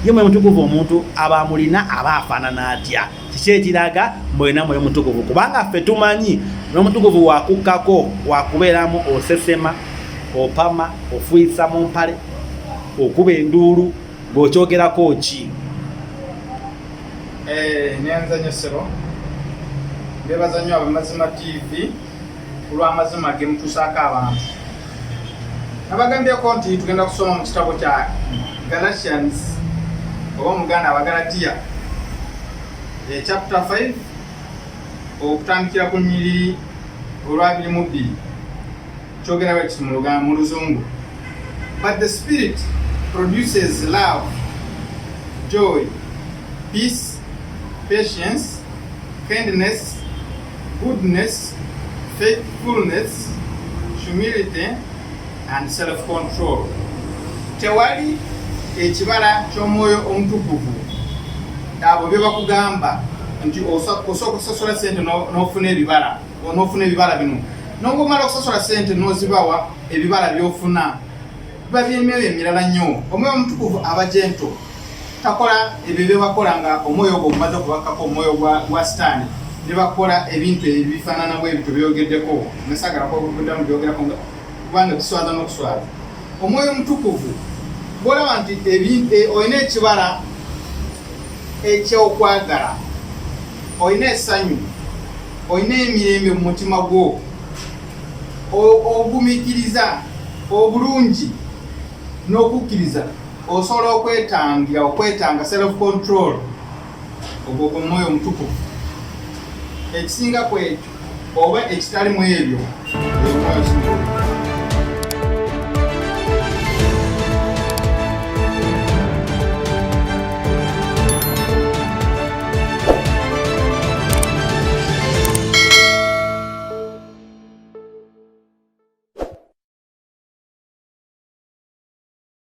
ye mwe mutukuvu omuntu aba amulina aba afaanana atya kiki ekiraga mwena mwoyo mutukuvu kubanga ffe tumanyi nomutukuvu wakukkako wakubeeramu osesema opama ofuisa mu mpale okuba enduulu ng'okyogerako ki eh, nyanza nyo sebo nebaza nyo abamazima tv olw'amazima ge mutuusaako abantu nabagambyeko nti tugenda kusoma mu kitabo kya galatians oba omuganda abagalatiya e chapta 5 okutandikira ku nyiriri olwabiri mu bbiri kyogera bwe kiti mu luzungu but the spirit produces love joy peace patience kindness Goodness, faithfulness, humility and self control. Tewali ekibala ky'omwoyo omutukuvu abo bye bakugamba nti osooka okusosola sente n'ofuna ebibala onofuna ebibala bino nongomala okusosola sente nozibawa ebibala byofuna biba byemyoyo emirala nnyo omwoyo omutukuvu aba gento takola ebyo byebakola nga omwoyo ogwo ogumaze okubakkako omwoyo gwa sitaani nebakola ebintu ebifaanana bwe ebyo byogeddeko nasagala kwakuddamu byogerako kubanga biswaza n'okuswaza omwoyo omutukuvu bwolaba nti e, olina ekibala ekyokwagala olina esanyu olina emirembe mu mutima gwo ogumikiriza obulungi n'okukkiriza Osobola okwetangira okwetanga self control ogwo gwe mwoyo omutukuvu ekisinga ku ekyo oba ekitali mu ebyo